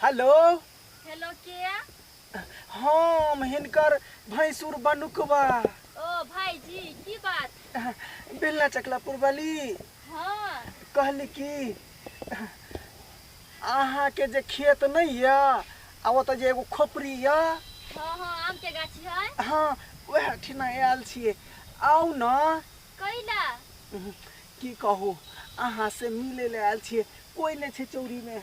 Hello hello के हम हिनकर भैंसुर बनुकवा ओ भाईजी की बात बेलना चकला पुरबली हाँ कहली कि अहाँके जे खेत नहीं है आ ओतऽ जे एगो खोपड़ी है हाँ हाँ आम के गाछी है हाँ वह ठिना आयल छिए आउ न कैला की कहू अहाँ से मिले ले आयल छिए कोई नहीं छै चौरी में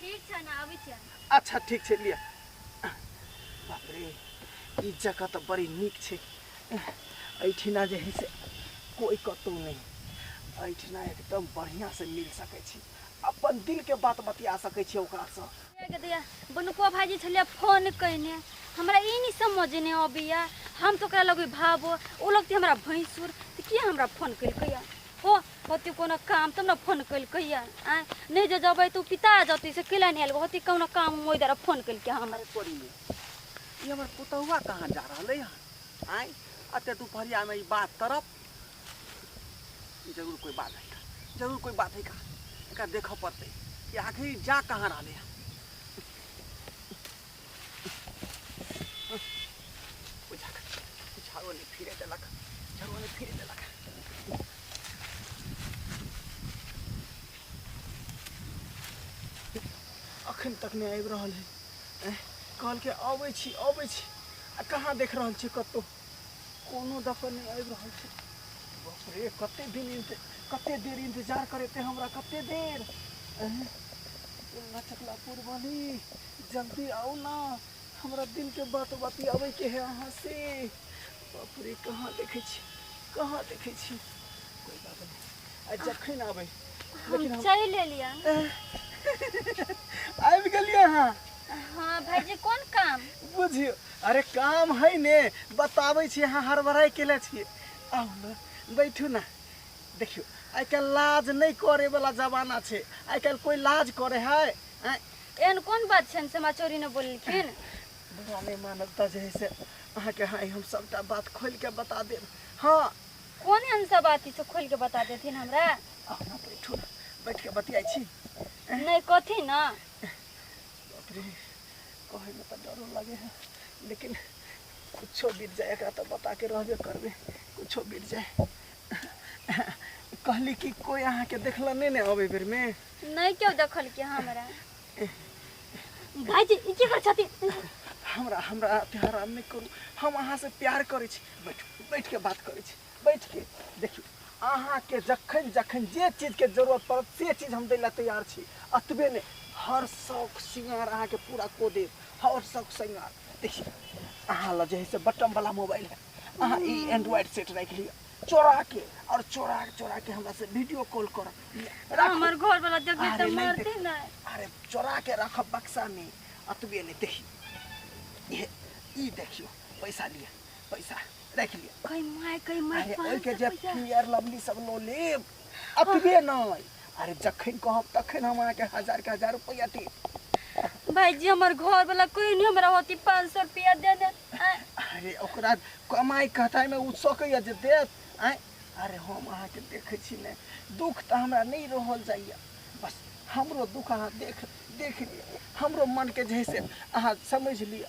ठीक छै ने अबै छियै अच्छा ठीक छै लिअ बाप रे ई जगह तऽ बड़ी नीक छै एहिठिना जे है से कोइ कतहु नहि एहिठिना एकदम बढ़िआँसँ मिल सकै छी अपन दिलके बात बतिया सकै छी ओकरासँ बनुको भाजी छलियै फोन कयने हमरा ई नहि समझ नहि अबैया हम तो ओकरा लगे भाबो ओ लगती हमरा भैंसुर तऽ किया हमरा फोन केलकैया हो होती कोनो काम तब ना फोन कल कहिया आय नहीं जे जबै तू पिता जती से किला नहीं आयल होती कोनो काम मोई दरा फोन कल के हम अरे तोरी में ये हमर पुतहुआ कहाँ जा रहले हन आय अते दुपहरिया में ई बात करब ई जरूर कोई बात है का जरूर कोई बात है का एका देखऽ पड़तै कि आखिर ई जा कहाँ रहले हन झाड़ो नहीं फिरे देलक झाड़ो नहीं फिरे देलक अखन तक नहीं आबि रहल है कहल के अबै छी अबै छी आ कहाँ देख रहल छी कतहु कोनो दफे नहि आबि रहल छै बाप रे कते दिन इन्त- कते देर इंतजार करेते हमरा कते देर एह, बोलना चकला पूर्वानी जल्दी आओ ना हमरा दिल के बात बतियाबे के है अहाँ से बाप रे कहाँ देखे छी कहाँ देखे छी कोई बात नहीं आ जखन आबे लेकिन हम हम चलि एलियै आबि गेलियै अहाँ हाँ भाईजी कोन काम बुझियो अरे काम है ने बताबै छी अहाँ हड़बड़ाइ केले छियै आउ ने बैठू ने देखियौ आइ काल्हि लाज नहि करैवला जमाना छै आइ काल्हि कोइ लाज करै है आँय, एहन कोन बात छनि से हमरा चोरी ने बोललखिन बुरा नहि मानब तऽ जे है से अहाँके हाँ हम सभटा बात खोलि कऽ बता देब हँ कोन एहन सब बात से खोलि के बता देथिन हमरा आउ ने बैठू ने बैठ कऽ बतियाइ छी नहि कथी ने कहे में तो डरो लगे है लेकिन कुछो बीत जाए एकरा तो बता के रहबे करबे कुछो बीत जाए कहली कि कोई अहाँ के देखला नहीं ने अबे बेर में नहीं क्यों देखल के हमरा भाईजी ई की कर छथि हमरा हमरा अति हराम नहीं करू हम अहाँ से प्यार करे छी बैठ बैठ के बात करे छी बैठके देखियौ अहाँके जखन जखन जे चीजके जरूरत पड़त से चीज हम दै लए तैयार छी अतबे नहि हर शौक सिंगार अहाँके पूरा को देब हर शौक सिंगार देखियौ अहाँ लए जे है से बटमवला मोबाइल है अहाँ ई एंड्रॉइड सेट राखि लिअ चोरा के और चोरा चोरा के हमरा से वीडियो कॉल कर हमर घर वाला देखबे त मारते न अरे चोरा के रख बक्सा में अतबे नहीं देखियो ये ई देखियो पैसा लिया पैसा राखि लिअ कई माय कई माय अरे पाँच ओहिके सौ जे रुपया। पियर लवली सब लो लेब अतबे नहि अरे जखन कहब तखन हम अहाँके हजार के हजार रुपैआ देब भाईजी हमर घर वाला कोई नहीं हमरा होती पाँच सौ रुपया दे दे आय, अरे ओकरा कमाई कहताइमे ओ सकैए जे देत आँय अरे हम अहाँके देखै छी ने दुख तऽ हमरा नहि रहल जाइए बस हमरो दुख अहाँ देख देख लिअ हमरो मनके जे है से अहाँ समझि लिअ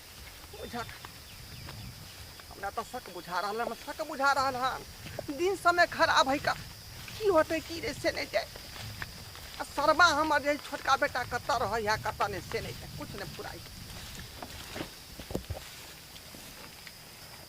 बुझक हमरा तऽ शक बुझा रहल है हमरा शक बुझा रहल है दिन समय खराब है का की होते की रे से नहीं जाए आ शर्मा हमर जे छोटका बेटा कतऽ रहै है कतऽ नहीं से नहीं जाए कुछ नहीं फुराई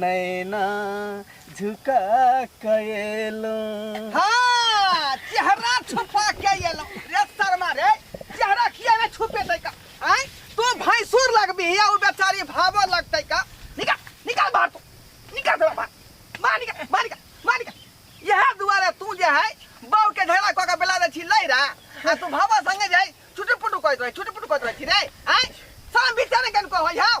नैना झुका कयलहुँ हाँ चेहरा छुपा के एलो रे शर्मा रे चेहरा किया में छुपे तै का आय तू भैंसुर लगबी या उ बेचारी भावो लगतै का निकाल निकाल बाहर तू निकाल दे बाहर बाहर निकाल बाहर निकाल बाहर निकाल यह दुआरे तू जे है बौ के झगड़ा क के बेला दे छी लैरा आ तू भावो संगे जाय छुटे पुटु कहत रहे छुटे पुटु कहत रहे छी रे आय साम बिचारे कन को होय हाउ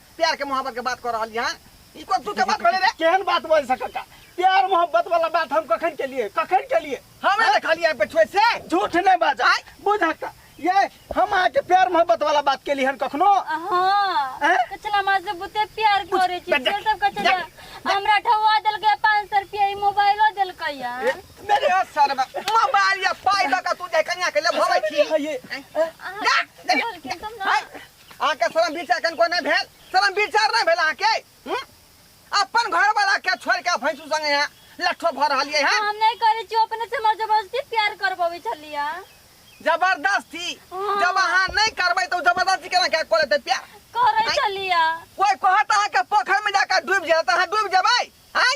प्यार के मोहब्बत के बात कर रहल यहाँ ई कोन तू के बात भेले रे केहन बात बोल सकता प्यार मोहब्बत वाला बात हम कखन के लिए कखन के लिए हमें देखलिए यहाँ पे छोड़ से झूठ नहीं बाजा आय। बुझ का ये हम आके प्यार मोहब्बत वाला बात के लिए हन कखनो हाँ हैं? कचला माँ से बुते प्यार करे छी बजा- से सब कचला हमरा ठवा देलकै पाँच सौ रुपया ई मोबाइलो देलकै यार मेरे सर में मोबाइल या पाई लगा तू जाए कन्या के ले भवे छी ये जा जा, जा। हाय, अहाँके शर्म बीच एखन कोइ नहि भेल शर्म विचार नहि भेल अहाँके हूँ? अपन घर वाला के छोड़ के भैंसू संग यहाँ लट्ठो भर रहलिए हैं हम नहीं करे छी अपने से मर जबरदस्ती प्यार करबवे छलिया जबरदस्ती हाँ। जब अहाँ नहीं करबै तो जबरदस्ती केना क्या करे ते प्यार करे आइ। छलिया कोई कहत अहाँ के पोखर में जाकर डूब जाए तो अहाँ डूब जेबै हैं